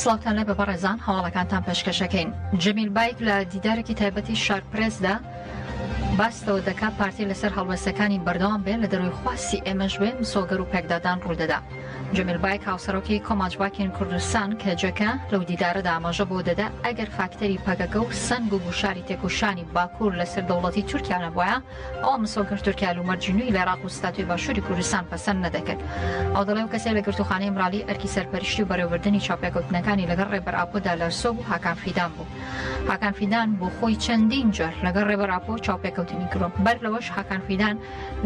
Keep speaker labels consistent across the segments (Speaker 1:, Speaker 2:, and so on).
Speaker 1: سڵاوتان لێبێ بەڕێزان هەواڵەکانتان پێشکەشەکەین جەمیل بایک لە دیدارێکی تایبەتی شار پرێسدا باستەوە دەکات پارتی لەسەر هەڵوێستەکانی بەردەوام بێ لە دەروی خواستی ئێمەش بێ مسۆگەر و پێکدادان ڕوودەدا جەمیل بایک هاوسەرۆکی کۆماج باکین کوردستان کەجەکە لەو دیدارە دامەژە بۆ دەدا ئەگەر فاکتەری پەکەکە و سنگ و گوشاری تێکوشانی باکوور لەسەر دەوڵەتی تورکیا نەبواە ئەو مسۆگەر تورکیا و مەرجی نوی لە عراق و ستاتوی باشووری کوردستان پەسەند نەدەکرد ئەو دەڵێ و کەسێ لە گرتوخانەی مرالی ئەرکی سەرپەرشتی و بەرەوردنی چاپێکوتنەکانی لەگەڵ ڕێبەر ئاپۆدا لەرسۆ بوو هاکان فیدان بوو هاکان فیدان بۆ خۆی چەندین جار لەگەڵ ڕێبەر ئاپۆ چاپێکوتنی کرۆ بەر لەوەش هاکان فیدان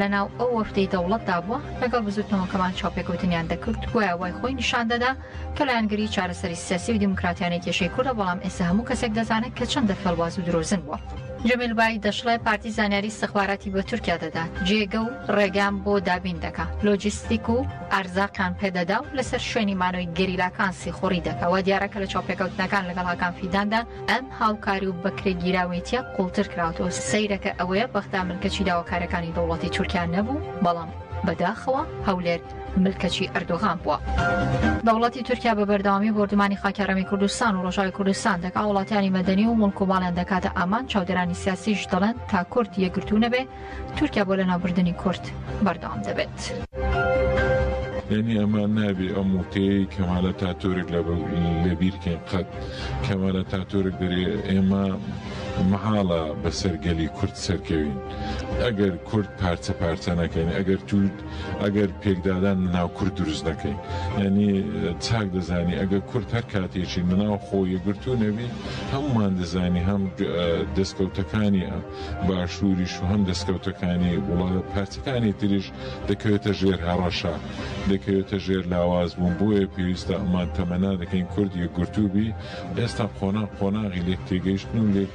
Speaker 1: لەناو ئەو وەفدەی دەوڵەتدا بووە لەگەڵ بزوتنەوەکەمان چاوپێکەوتنیان دەکرد گوایە وای خۆی نیشان دەدا کە لایەنگری چارەسەری سیاسی و دیموکراتیانەی کێشەی کوردە بەڵام ئێستا هەموو کەسێک دەزانێت کە چەندە فێڵباز و درۆزن بووە. جەمیل بای دەشڵێ پارتی زانیاری ئیستخباراتی بە تورکیا دەدا، جێگە و ڕێگان بۆ دابین دەکا، لۆجیستیک و ئەرزاقیان پێ دەدا و لەسەر شوێنی مانەوەی گەریلاکان سیخوڕی دەکا، وا دیارە کە لە چاوپێکەوتنەکان لەگەڵ هاکان فیداندا ئەم هاوکاری و بەکرێگیراوێتیە قوڵتر کراوەتەوە، سەیرەکە ئەوەیە بەغدا ملکەچی داواکارەکانی دەوڵەتی تورکیا نەبوو، بەڵام بەداخەوە هەولێر ملکەچی ئەردۆغان بووە. دەوڵەتی تورکیا بە بەردەوامی بۆردومانی خاکی هەرێمی کوردستان و ڕۆژاوی کوردستان دەکا، وڵاتانی مەدەنی و مڵک و ماڵیان دەکاتە ئامانج، چاودێرانی سیاسیش دەڵێن تا کورد یەکگرتوو نەبێ، تورکیا بۆ لەناوبردنی کورد بەردەوام دەبێت.
Speaker 2: یانی ئەمان نابێ ئەم وتەیەی کەمال ئەتاتورک لەبیر کەین قەت کەمال ئەتاتورک دەرێ ئێمە مەحاڵە بەسەر گەلی کورد سەرکەوین ئەگەر کورد پارچە پارچە نەکەین ئەگەر تود ئەگەر پێکدادان لەناو کورد دروست نەکەین یعنی چاک دەزانی ئەگەر کورد هەر کاتێکی لەناو خۆ یەگرتو نەبی هەمومان دەزانی هەم دەستکەوتەکانی ئەم باشووریش و هەم دەستکەوتەکانی وڵات پارتیکانی تریش دەکەوێتە ژێر هەڕەشە دەکەوێتە ژێر لاواز بوون بۆیە پێویستە ئەمان تەمەنا دەکەین کورد یەکگرتوو بی ئێستا قۆناغ قۆناغی لێک تێگەیشتن و لێک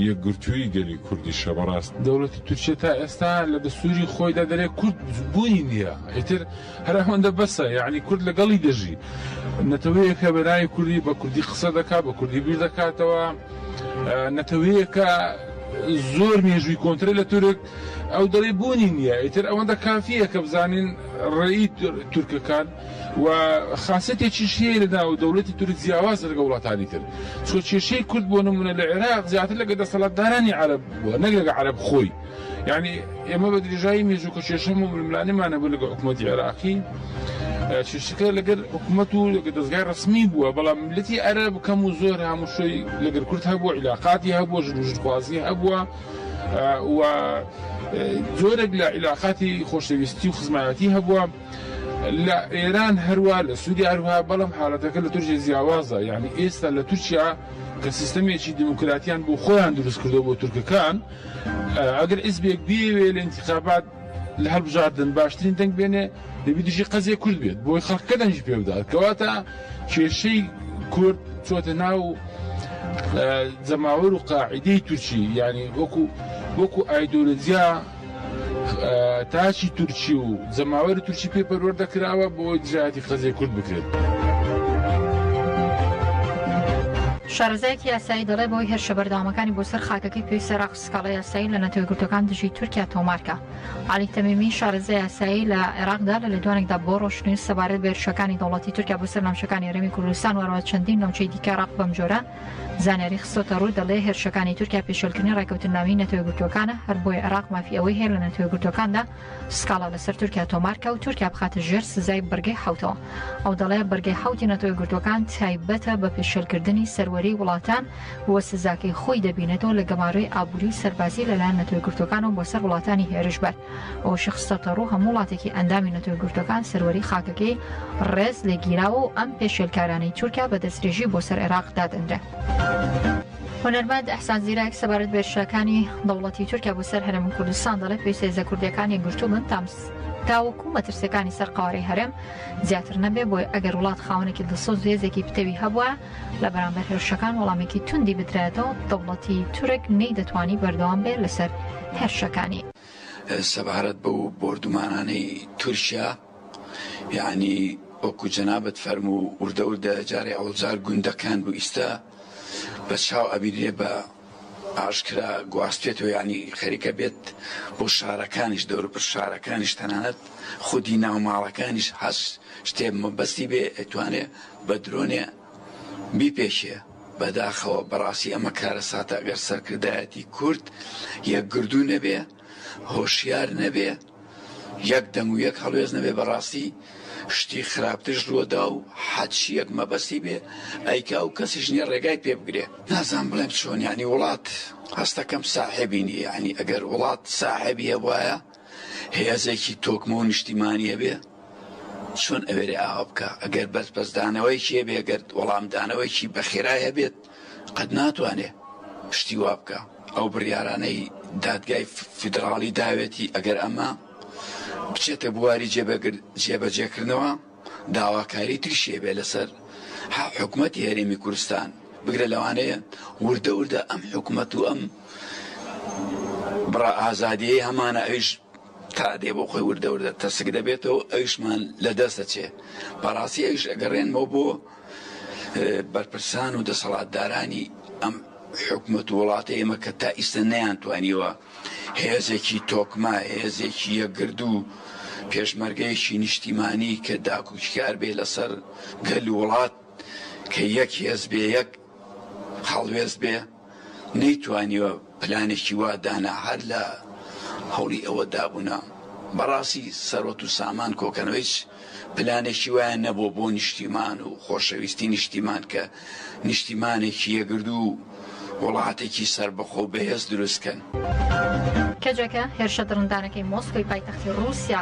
Speaker 2: یەکگرتووی گەلی کوردیشە بەڕاست دەوڵەتی تورکیە تا
Speaker 3: ئێستا لە دەستووری خۆیدا دەرێ کورد بوونی نییە ئیتر هەر ئەوەندە بەسە یەعنی کورد لەگەڵی دەژی نەتەوەیەکە بەناوی کوردی بە کوردی قسە دەکات بە کوردی بیر دەکاتەوە نەتەوەیەکە زۆر مێژووی کۆنترە لە تورک ئەو دەڵی بوونی نییە ئیتر ئەوەندە کافیە کە بزانین ڕێی تورکەکان و خاصێتێکی شێ لە ناو دەولەتی تورک جیاواز لەگە وڵاتانی تر چۆ کێشەی کورد بۆ نمونە لە عێراق زیاتر لەگە دەسەڵاتدارانی عرب بووە نەک لەگە عرب خۆی یانی ئێمە بە درێژایی مێژوو کە کێشە ململانێمان هەبوو لەگەڵ حکوومەتی عێراقی کێشەکە لەگەر حکوومەت و لەگە دەستگای ڕسمی بووە بەڵام ملەتی ئەرە بکەم و زۆر هەمووشی لەگەر کورت هەبووە عیلاقاتی هەبووە ژنوژخوازی هەبووە و زۆرێک لە عیلاقاتی خۆشەویستی و خزمایەتی هەبووە لە ئێران هەروە لە سوودی هەروها بەڵام حالەتەکە لە تورکی زیاوازە یعنی ئێستا لە تورکیا کە سیستەمێکی دیموکراتیان بۆ خۆیان دروست کردو بۆ تورکەکان ئەگەر حیزبێک بیەوێ لە ئینتیخابات لە هەڵبژاردن باشترین دەنگ بێنێ دەبی دژی قەزیە کورد بێت بۆی خەڵکە دەنگی پێ بدات کەواتە کێشەی کورد چۆتە ناو جەماوەر و قاعدەی تورکی ینی وەکو وەکو ئایدۆلۆجیا تاچی تورکی و جەماوەری تورکی پێ پەروەردە کراوە بۆ ئەوەی دژایەتی قەزیە
Speaker 1: کورد بکرێت. شارەزایەکی یاسایی دەڵێ بۆی هێرشە بەردەوامەکانی بۆ سەر خاکەکەی پێویستە عێراق سکاڵای یاسایی لە نەتەوە یەکگرتووەکان دژی تورکیا تۆمار کا. عەلی تەمیمی، شارەزای یاسایی لە عێراقدا لە لێدوانێکدا بۆ ڕۆژنیوز سەبارەت بە هێرشەکانی دەوڵەتی تورکیا بۆ سەر ناوچەکانی هەرێمی کوردستان و هەروەها چەندین ناوچەی دیکەی عێراق بەمجۆرە زانیاری خستۆتە ڕوو دەڵێ هێرشەکانی تورکیا پێشێلکردنی ڕێککەوتننامەی نەتەوە یەکگرتووەکانە هەر بۆیە عێراق مافی ئەوەی هەیە لە نەتەوە یەکگرتووەکاندا سکاڵا لەسەر تورکیا تۆمارکە و تورکیا بخاتە ژێر سزای بڕگەی حوتەوە ئەو دەڵێ بڕگەی حوتی نەتەوە گرتوەکان تایبەتە بە پێشێلکردنی سەروەری وڵاتان و سزاکەی خۆی دەبینێتەوە لە گەمارۆی ئابوری و سەربازی لەلایەن نەتەوە گرتوەکانەوە بۆ سەر وڵاتانی هێرشبەر ئەوەشی خستەتەڕوو هەموو وڵاتێکی ئەندامی نەتەوە گرتوەکان سەروەری خاکەکەی ڕێز لێگیراوە و ئەم پێشێلکارانەی تورکیا بە دەسترێژی بۆ سەر عێراق دادەنرێن. هونەرمەند ئەحسان زیرەک سەبارەت بە هێرشەکانی دەوڵەتی تورکیا بۆ سەر هەرێم کوردستان دەڵێت پێویستە هێزە کوردییەکان یەکگرتوو بن تاوەکو مەترسییەکانی سەر قەوارەی هەرێم زیاتر نەبێت بۆیە ئەگەر وڵات خاوەنێکی دڵسۆز و هێزێکی پتەوی هەبووە لە بەرامبەر هێرشەکان وەڵامێکی توندی بدرایەتەوە دەوڵەتی تورک نەیدەتوانی بەردەوام بێت لەسەر هێرشەکانی.
Speaker 4: سەبارەت بەو بۆردومانانەی تورکیا یەعنی وەکو جەنابت فەرموو وردە وردە جارێ ئەوجار گوندەکان بوو ئیستا بە چاو ئەبینرێ بە ئاشکرا گواستێتەوە یانی خەریکە بێت بۆ شارەکانیش دەوربەر شارەکانیش تەنانەت خودی ناو ماڵەکانیش هەس شتێ مەبەستی بێ ئەتوانێ بە درۆنێ بیپێشێ بەداخەوە بەڕاستی ئەمە کارە ساتە ئەگەر سەرکردایەتی کورد یەکگردو نەبێ هۆشیار نەبێ یەک دەنگ و یەک هەڵوێست نەبێ بەڕاستی شتی خراپترش رووەدا و حەچیەک مەبەستی بێ ئەیکا و کەسیش نیە ڕێگای پێ بگرێ نازانم بڵێم چۆن یانی وڵات هەستەکەم ساحێبی نیە یانی ئەگەر وڵات ساحێبی هەبوایە هێزێکی تۆکمە و نیشتیمانی هەبێ چۆن ئەوێرێ ئاوا بکە ئەگەر بەرپەرچدانەوەیەکی هەبێ گەر وەڵامدانەوەیەکی بەخێرای هەبێت قەت ناتوانێ شتی وا بکا. ئەو بڕیارانەی دادگای فیدڕاڵی داوێتی ئەگەر ئەمە بچێتە بواری جێبەجێکردنەوە داواکاری تریشی هەبێ لەسەر حکومەتی هەرێمی کورستان بگرە لەوانەیە وردە وردە ئەم حکومەت و ئەم بڕە ئازادیەی هەمانە ئەویش تا دێ بۆ خۆی وردە وردە تەسک دەبێتەوە ئەویشمان لە دەست دەچێ بەڕاستی ئەویش ئەگەڕێنمەوە بۆ بەرپرسان و دەسەڵاتدارانی ئەم حکومەت و وڵاتە ئێمە کە تا ئیستە نەیان توانیوە هێزێکی تۆکما هێزێکی یەکگرد و پێشمەرگەیەکی نیشتیمانی کە داکوچکار بێ لەسەر گەل وڵات کە یەک هێز بێ یەک هەڵوێست بێ نەیتوانیوە پلانێکی وا دانا هەر لە هەوڵی ئەوە دابوونە. بەڕاستی سەروەت و سامان کۆکەنەوە هیچ پلانێکی وایان نەبووە بۆ نیشتیمان و خۆشەویستی نیشتیمان کە نیشتیمانێکی یەکگردوو و وڵاتێکی سەربەخۆ و بەهێز دروست کەن. کەجەکە،
Speaker 1: هێرشە دڕندانەکەی مۆسکۆی پایتەختی ڕووسیا،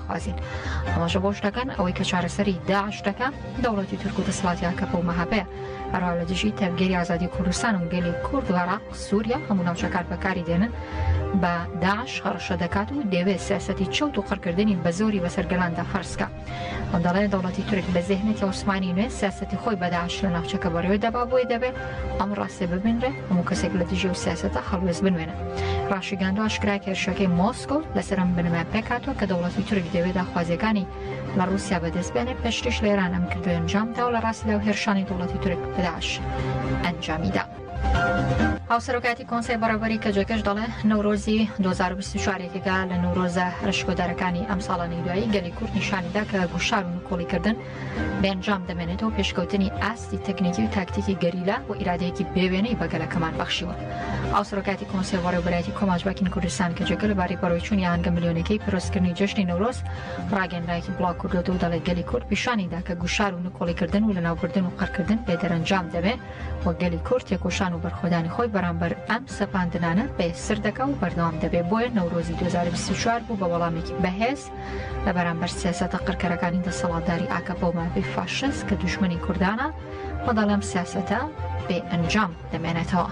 Speaker 1: بازین ئاماژە بۆش دەکەن ئەوەی کە چارەسەری داعش دەکە دەوڵەتی تورک و دەسڵاتی ئاکەپە و مەهەپەیە هەروا لە دژی تەڤگەری ئازادی کوردستان و گەلی کورد و عێراق سووریا هەموو ناوچەکان بەکاری دێنن بە داعش هەڕەشە دەکات و دەوێت سیاسەتی چەوت و قڕکردنی بە زۆری بەسەر گەلاندا فەرزکە و دەڵێ دەوڵەتی تورک بە زێهنێتی عوسمانی نوێ سیاسەتی خۆی بەداعش لە ناوچەکە بەڕێوە دەبا بۆی دەبێت ئەم ڕاستێ ببینرێ هەموو کەسێک لە دژی و سیاستە هەڵوێز بنوێنە ڕاشیگەاندۆ ئاشکرای کێرشەکەی مۆسکۆ لەسەرم بنەمای پێکاتەوە کە دەوڵەتی تورک دەوێت داخوازیەکانی لە ڕوسیا بەدەست بێنێ پێشتریش لە ئێران ئەم کردو ئەنجام دا و لە ڕاستیدا و هێرشانی دەوڵەتی تورک بداش ئەنجامیدا. هاوسەرۆکاتی کۆنسای بەڕێوبەری کەجەکەش دەڵێ نەورۆزی 2024 یەکێکە لە نەورۆزە ئەشکۆدارەکانی ئەم ساڵانەی دوایی گەلی کورد نیشانیدا کە گوشار و نکۆڵیکردن بەنجام دەمێنێتەوە پێشکەوتنی ئاستی تەکنیکی و تاکتیکی گەریلا و ئیرادەیەکی بێوێنەی بە گەلەکەمان بەخشیوە ئاوسرۆ کاتی کۆنسێ وەڕێوبەرایەتی کۆماج باکین کوردستان کە جێگە لەبارەی بەڕێچوونی ئاهەنگە ملیۆنەکەی پرۆسکردنی جەژنی نەورۆز ڕاگەنرایەکی بڵاو کردوەوە و دەڵێ گەلی کورد پیشانی دا کە گوشار و نکۆڵی کردن و لەناوبردن و قڕکردن بێ دەرەنجام دەبێ و گەلی کورد تێکۆشان و بەرخۆدانی خۆی بەرامبەر ئەم سەپاندنانە بەێسر دەکا و بەردەوام دەبێ بۆیە نەورۆزی 2024 بوو بە وەڵامێکی بەهێز لە بەرامبەر سیاسەتە قڕکەرەکانی دەسەڵاتداری ئاکەپە و مافی فاشست کە دوژمنی کوردانە و دەڵێم سیاسەتە بێ ئەنجام دەمێنێتەوە.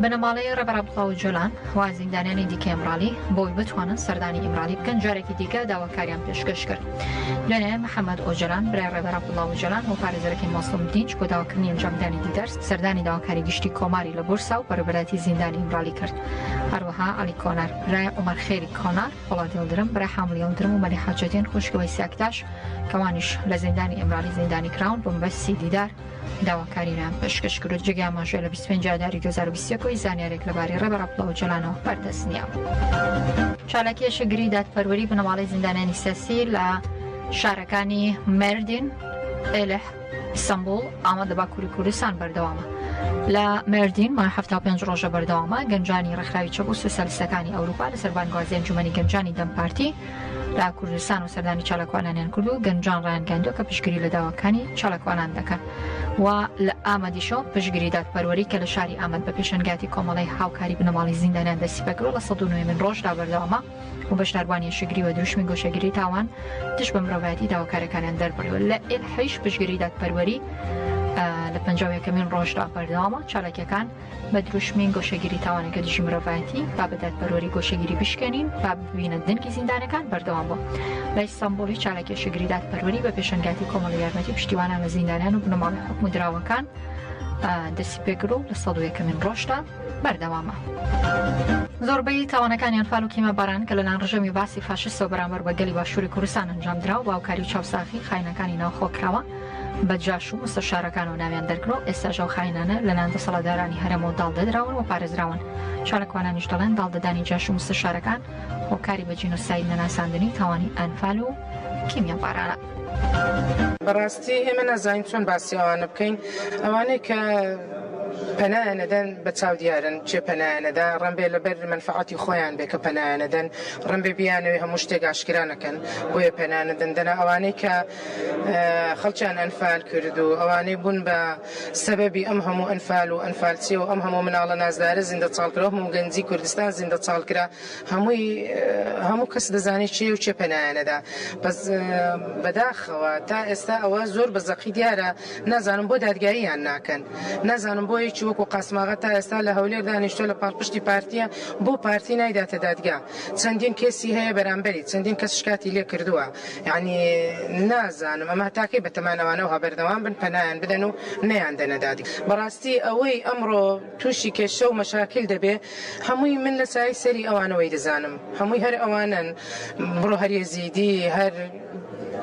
Speaker 1: بنەماڵەی ڕێبەر عەبدوڵا ئۆجالان و زیندانیانی دیکەی ئیمراڵی بۆی بتوانن سەردانی ئیمراڵی بکەن جارێکی دیکە داواکاریان پێشکەش کرد. دوێنێ محەممەد ئۆجالان برای ڕێبەر عەبدوڵا ئۆجالان و پارێزەرەکەی مەزڵوم دینچ بۆ داواکردنی ئەنجامدانی دیدار سەردانی داواکاری گشتی کۆماری لە بورسا و بەڕێوبەرایەتی زیندانی ئیمرالی کرد. هەروەها عەلی کۆنار، برای عومەر خێری کۆنار، پۆڵاد یڵدرم، برای حامل یڵدرم و مەلیحە جەدین خوشکی وەیسی ئەکتاش کە ئەوانیش لە زیندانی ئیمرالی زیندانی کراون بە مەبەستی دیدار داواکارییان پێشکەش کرد و جێگەی ئاماژەیە لە بیست و پێنج ئاداری دوو هەزار و بیست و یەک و هیچ زانیارییەک لەبارەی ڕێبەر عەبدوڵا ئۆجالانەوە بەردەست نییە. چالاکی ئێشکگری دادپەروەری بنەماڵەی زیندانیانی سیاسی لە شارەکانی مێردین، ئێلح، ئیستەنبوڵ، ئامەد لە باکووری کوردستان بەردەوامە. لە مێردین، مانگ حەفتا و پێنج ڕۆژە بەردەوامە، گەنجانی ڕێکخراوی چەپ و سۆسیالیستەکانی ئەوروپا لەسەر بانگوازی ئەنجومەنی گەنجانی دەم پارتی لە کوردستان و سەردانی چالاکوانانیان کرد و گەنجان ڕایانگەیاندووە کە پشتگری لە داواکانی چالاکوانان دەکەن و لە ئامەدیشەوە پشتگری دادپەروەری کە لە شاری ئامەد بە پێشەنگایەتی کۆمەڵەی هاوکاری بنەماڵەی زیندانیان دەستی پێکردووە لە سەد و نۆیەمین ڕۆژدا بەردەوامە. و بەشداروانی شگری و دروشمی گۆشەگیری تاوان دش بە مرۆڤایەتی داواکارەکانیان دەربڕی لە ئێحیش پشگری دادپەروەری لە پنجەکەمین ڕۆژدا بەردەوامە چالاکیەکان بە دروشمی گۆشەگیری تاوانەکە دژی مرۆڤایەتی با بە دادپەروەری گۆشەگیری بشکێنین با ببینە دەنگی زیندانەکان بەردەوام بوو لە ئیستانبولی چالاکی شگری دادپەروەری بە پێشنگاتی کۆمەڵ یارمەتی پشتیوانان لە زیندانیان و بنەماڵی حکومدراوەکان دەستی پێکرد و لە سەدوویەکەمین ڕۆژدا بەردەوامە. زۆربەی تاوانەکانی ئەنفال و کیمە باران کە لەلایەن ڕژێمی بەعسی فاشیستەوە بەرامبەر بە گەلی باشووری کوردستان ئەنجامدرا و بە هاوکاری و چاوساغی خاینەکانی ناوخۆ کراوە بە جاش و مستەشارەکانەوە ناویان دەرکرا و ئێستاش ئەو خاینانە لەلایەن دەسەڵاتدارانی هەرێمەوە داڵدەدراون و پارێزراون چالاکوانانیش دەڵێن داڵدەدانی جاش و مستەشارەکان هۆکاری بە جینۆساید نەناساندنی تاوانی ئەنفال و کیمیابارانە.
Speaker 5: بەڕاستی ئێمە نازانین چۆن باسی ئەوانە بکەین ئەوانەی کە پەنایانەدەن بە چاو دیارن چێ پەنایانەدا ڕەمبێ لەبەر منفعاتی خۆیان بێ کە پەنایانەدەن ڕەمبێ بیانەوەی هەموو شتێک ئاشکرانەکەن بۆیە پەنانەدەن دەنا ئەوانەی کە خەڵکیان ئەنفال کرد و ئەوانەی بوون بە سەبەبی ئەم هەموو ئەنفال و ئەنفالچیە و ئەم هەموو مناڵە نازدارە زیندە چاڵکرا هەموو گەنجی کوردستان زیندە چاڵکرا هەمووی هەموو کەس دەزانێت چێ و چێ پەنایانەدا بەس بەداخەوە تا ئێستا ئەوە زۆر بە زەقی دیارە نازانم بۆ دادگاییان ناکەن نازانم بۆ یەکی وەکو قاسماغا تا ئێستا لە هەولێر دانیشتۆ لە پاڵپشتی پارتیە بۆ پارتی نایداتە دادگا چەندین کێسی هەیە بەرامبەری چەندین کەس شکاتی لێ کردووە یعنی نازانم ئەمە تاکەی بەتەمانەوانەوە بەردەوام بن پەنایان بدەن و نەیان دەنە دادگا بەڕاستی ئەوەی ئەمڕۆ توشی کێشە و مەشاکیل دەبێ هەمووی من لە سایەی سەری ئەوانەوەی دەزانم هەمووی هەر ئەوانەن بڕۆ هەر یەزیدی هەر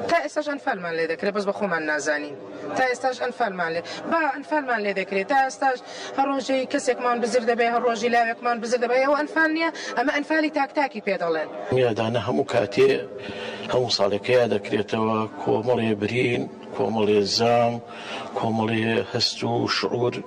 Speaker 5: تا ئێستاش ئەنفالمان لێ دەکرێ بەس بە خۆمان نازانین تا ئێستاش ئەنفالمان لێ با ئەنفالمان لێ دەکرێ تا ئێستاش هەر ڕۆژەی کەسێکمان بزر دەبێ هەر ڕۆژی لاوێکمان بزر دەبێ ئەوە ئەنفال نییە ئەمە ئەنفالی تاک تاکی پێ دەڵێن. میرەدانە هەموو
Speaker 6: کاتێ هەموو ساڵێ پەیا دەکرێتەوە کۆمەڵێ برین کۆمەڵێ زام کۆمەڵێ هەست و شعور.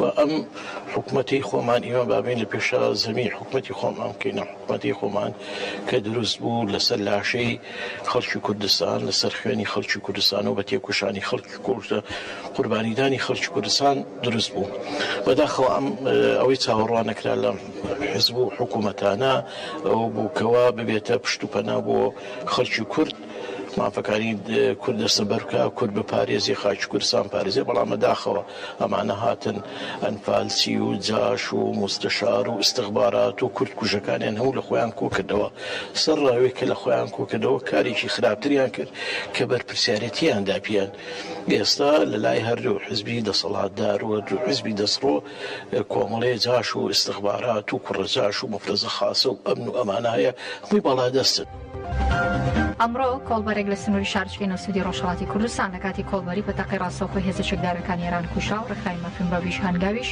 Speaker 6: و ئەم حکومەتی خۆمان ئیمە بابین لە پێشا زەمی حکومەتی خۆمان بکەینە حکومەتی خۆمان کە دروست بوو لەسەر لاشەی خەڵکی کوردستان لەسەر خوێنی خەڵکی کوردستان و بە تێکوشانی خەڵکی کۆشتە قوربانیدانی خەڵکی کوردستان دروست بوو بەداخەوە ئەم ئەوەی چاوەڕوان نەکرا لە حزب و حکوومەتانە ئەو بووکەوە ببێتە پشت و پەنا بۆ خەڵکی کورد مافەکانی کورد دەستەبەر بکا، کورد بپارێزێ، خاکی کوردستان بپارێزێ، بەڵام بەداخەوە ئەمانە هاتن ئەنفالچی و جاش و موستەشار و ئیستخبارات و کورد کوژەکانیان هەموو لە خۆیان کۆکردەوە، سەر ڕاوێک کە لە خۆیان کۆکردەوە کارێکی خراپتریان کرد کە بەرپرسیارێتیان دا پێیان. ئێستا لە لای هەردوو حزبی دەسەڵاتدار و هەردوو حزبی دەستڕۆ کۆمەڵێ جاش و ئیستخبارات و کوڕە جاش و مەفرەزە خاسە و ئەمن و ئەمانە هەیە، هەمووی باڵادەستن.
Speaker 1: ئەمڕۆ کۆڵبەرێک لە سنووری شارچکەی نەوسدی ڕۆژهڵاتی کوردستان لە کاتی کۆڵبەری بە تەقی ڕاستەوخۆی هێزە چەکدارەکان ئێران کوشا و ڕێکخراوی مەفرن بەڤیش هەنگاویش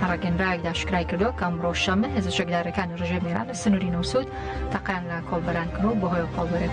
Speaker 1: لە ڕاگەنراوێکدا ئاشکرای کردووە کە ئەمڕۆ شەممە هێزە چەکدارەکانی ڕژێمی ئێران لە سنووری نەوسود تەقیان لە کۆڵبەران کردووە و بەهۆیەوە کۆڵبەرێک